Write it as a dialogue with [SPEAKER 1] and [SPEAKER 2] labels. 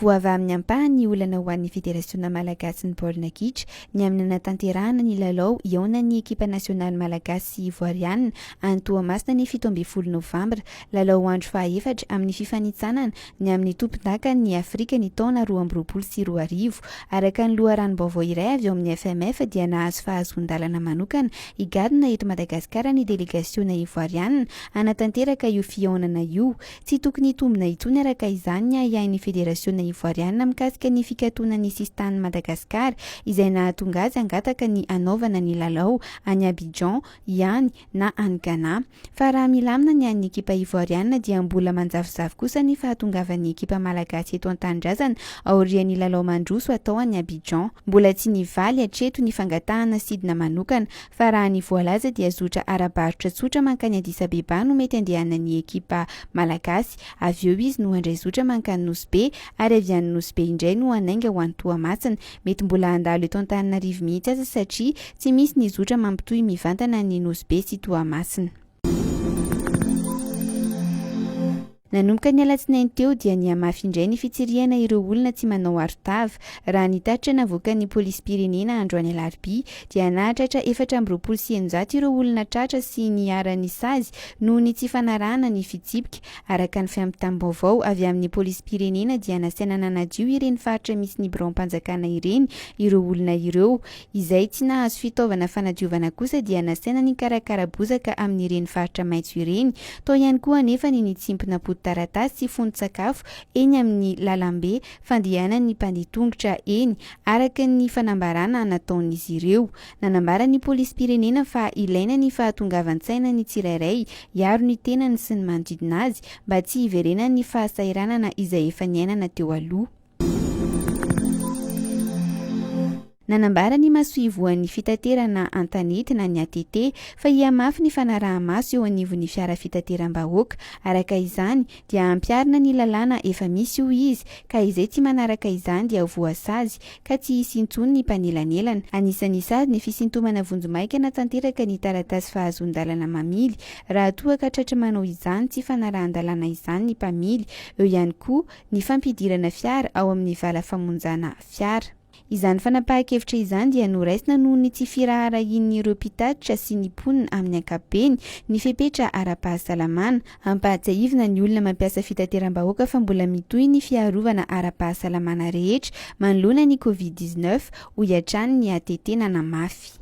[SPEAKER 1] Voava amin'ny ampahany ny olana ho an'ny Federasiona malagasin'ny baolina kitra ny amin'ny nanatanterahana ny lalao hihaonan'ny ekipa nasionaly malagasy sy ivoarianina any Toamasina ny fito ambin'ny folo novambra, lalao andro fahaefatra amin'ny fifanintsanana ny amin'ny tompondakan'ny Afrika ny taona roa amby roapolo sy roa arivo. Araka ny loharanom-baovao iray avy ao amin'ny FMF dia nahazo fahazoan-dalana manokana higadona eto Madagasikara ny delegasiona ivoarianina hanatanteraka io fihaonana io. Tsy tokony hitombina intsony araka izany ny ahiahin'ny federasiona ivoarianina mikasika ny fikatonan'ny sisin-tanin'i Madagasikara izay nahatonga azy hangataka ny hanaovana ny lalao any Abidjan ihany na any Ghana. Fa raha milamina ny an'ny ekipa Ivoarianina dia mbola manjavozavo kosa ny fahatongavan'ny ekipa Malagasy eto an-tanindrazana aorian'ny lalao mandroso atao any Abidjan. Mbola tsy nivaly hatreto ny fangatahana sidina manokana fa raha ny voalaza dia zotra ara-barotra tsotra mankany Addis Abeba no mety andehanan'ny ekipa Malagasy, avy eo izy no handray zotra mankany Nosy Be ary avy any Nosy Be indray no hanainga ho any Toamasina, Mety mbola handalo eto Antananarivo mihitsy aza satria tsy misy ny zotra mampitohy mivantana an'i Nosy Be sy Toamasina. Nanomboka ny alatsinainy teo dia nihamafy indray ny fitsirihana ireo olona tsy manao arotava. Raha ny tatitra navoakan'ny polisim-pirenena androany alarobia dia nahatratra efatra amby roapolo sy eninjato ireo olona tratra sy niharan'ny sazy noho ny tsy fanarahana ny fitsipika Araka ny fampitam-baovao avy amin'ny polisim-pirenena dia nasaina nanadio ireny faritra misy ny biraom-panjakana ireny ireo olona ireo. Izay tsy nahazo fitaovana fanadiovana kosa dia nasaina nikarakara bozaka amin'ireny faritra maitso ireny. Tao ihany koa anefa ny nitsimpona potitaratasy sy fonon-tsakafo eny amin'ny lalambe fandehanan'ny mpandeha tongotra eny, araka ny fanambarana nataon'izy ireo. Nanambara ny polisim-pirenena fa ilaina ny fahatongavan-tsaina ny tsirairay hiaro ny tenany sy ny manodidina azy mba tsy hiverenan'ny fahasahiranana izay efa niainana teo aloha. Nanambara ny masoivohon'ny fitaterana an-tanety na ny ATT fa hihamafy ny fanaraha-maso eo anivon'ny fiara fitateram-bahoaka. Araka izany, dia ampiharina ny lalàna efa misy hoy izy ka izay tsy manaraka izany dia ho voasazy ka tsy hisy intsony ny mpanelanelana. Anisan'ny sazy ny fisintomana vonjimaika na tanteraka ny taratasy fahazoan-dalana mamily raha toa ka tratry manao izany tsy fanarahan-dalàna izany ny mpamily, eo ihany koa ny fampidirana fiara ao amin'ny vala famonjana fiara. Izany fanapahan-kevitra izany dia noraisina noho ny tsy firaharahian'ireo mpitatitra sy ny mponina amin'ny ankapobeny ny fepetra ara-pahasalamana. Ampahatsiahivina ny olona mampiasa fitateram-bahoaka fa mbola mitohy ny fiarovana ara-pahasalamana rehetra manoloana ny Covid dix neuf, hoy hatrany ny ATT nanamafy.